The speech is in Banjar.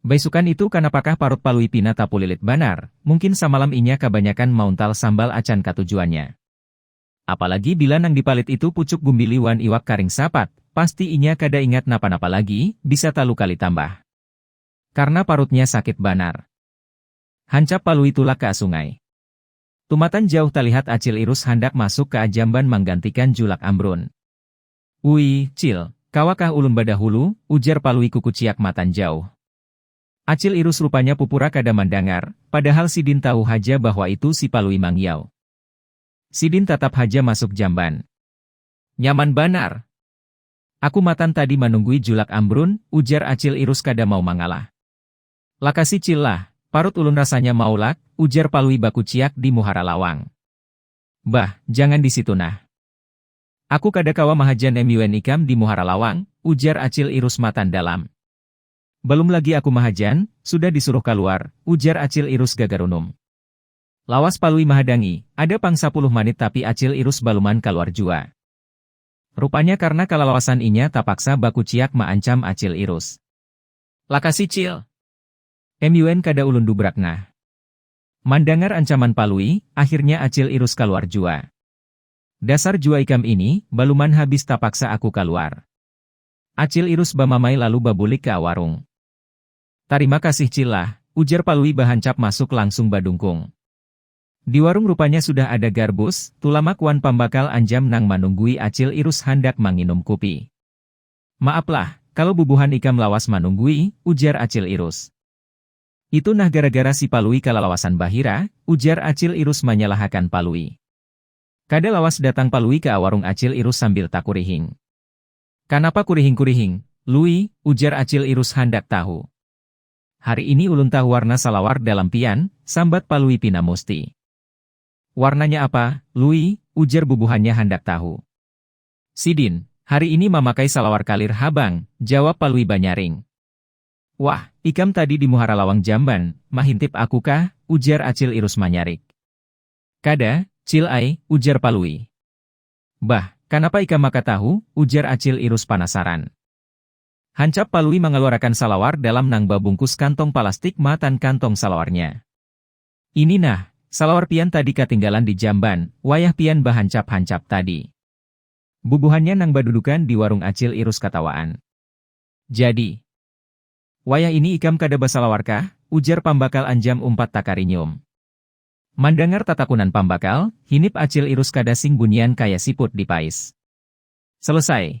Baisukan itu kanapakah parut Palui pina tapulilit banar, mungkin samalam inya kabanyakan mauntal sambal acan katujuannya. Apalagi bila nang dipalit itu pucuk gumbili wan iwak karing sapat, pasti inya kada ingat napa-napa lagi, bisa talu kali tambah. Karna parutnya sakit banar. Hancap Palui tulak ka sungai. Tumatan jauh talihat Acil Irus handak masuk ka jamban manggantikan julak Ambrun. Uii, Cil, kawakah ulun badahulu? ujar Palui kukuciak matan jauh. Acil Irus rupanya pupura kada mandangar, padahal sidin tahu haja bahwa itu si Palui mangiau. Sidin tatap haja masuk jamban. Nyaman banar. Aku matan tadi manunggui julak ambrun, ujar Acil Irus kada mau mangalah. Lakasi Cil lah, parut ulun rasanya maulak, ujar Palui bakuciak di muhara lawang. Bah, jangan di situ nah. Aku kada kawa mahaja nemuian ikam di muhara lawang, ujar Acil Irus matan dalam. Balum lagi aku mahajan, sudah disuruh kaluar, ujar Acil Irus gagarunum. Lawas Palui mahadangi, ada pang sapuluh manit tapi Acil Irus baluman kaluar jua. Rupanya karna kalalawasan inya tapaksa bakuciak maancam Acil Irus. Lakasi Cil. Nemuian kada ulun dubrak nah. Mandangar ancaman Palui, akhirnya Acil Irus kaluar jua. Dasar jua ikam ini, baluman habis tapaksa aku kaluar. Acil Irus bamamai lalu babulik ka warung. Tarima kasih Cil lah, ujar Palui bahancap masuk langsung badungkung. Di warung rupanya sudah ada Garbus, Tulamak wan pambakal Anjam nang manunggui Acil Irus handak manginum kupi. Maap lah, kalo bubuhan ikam lawas manunggui, ujar Acil Irus. Itu nah gara-gara si Palui kalalawasan bahira, ujar Acil Irus manyalahakan Palui. Kada lawas datang Palui ka warung Acil Irus sambil takurihing. Kanapa kurihing-kurihing, Lui? ujar Acil Irus handak tahu. Hari ini ulun tahu warna salawar dalam pian, sambat Palui pina musti. Warnanya apa, Lui? ujar bubuhannya handak tahu. Sidin, hari ini mamakai salawar kalir ha bang, jawab Palui banyaring. Wah, ikam tadi di muhara lawang jamban, mahintip aku kah? ujar Acil Irus manyarik. Kada, Cil ai, ujar Palui. Bah, kanapa ikam maka tahu? ujar Acil Irus panasaran. Hancap Palui mangaluarakan salawar dalam nang babungkus kantong palastik matan kantong salawarnya. Ini nah, salawar pian tadi katinggalan di jamban, wayah pian bahancap-hancap tadi. Bubuhannya nang badudukan di warung Acil Irus katawaan. Jadi. Wayah ini ikam kada basalawar kah? ujar pambakal Anjam umpat takarinyum. Mandangar tatakunan pambakal, hinip Acil Irus kada sing bunyian kaya siput di pais. Selesai.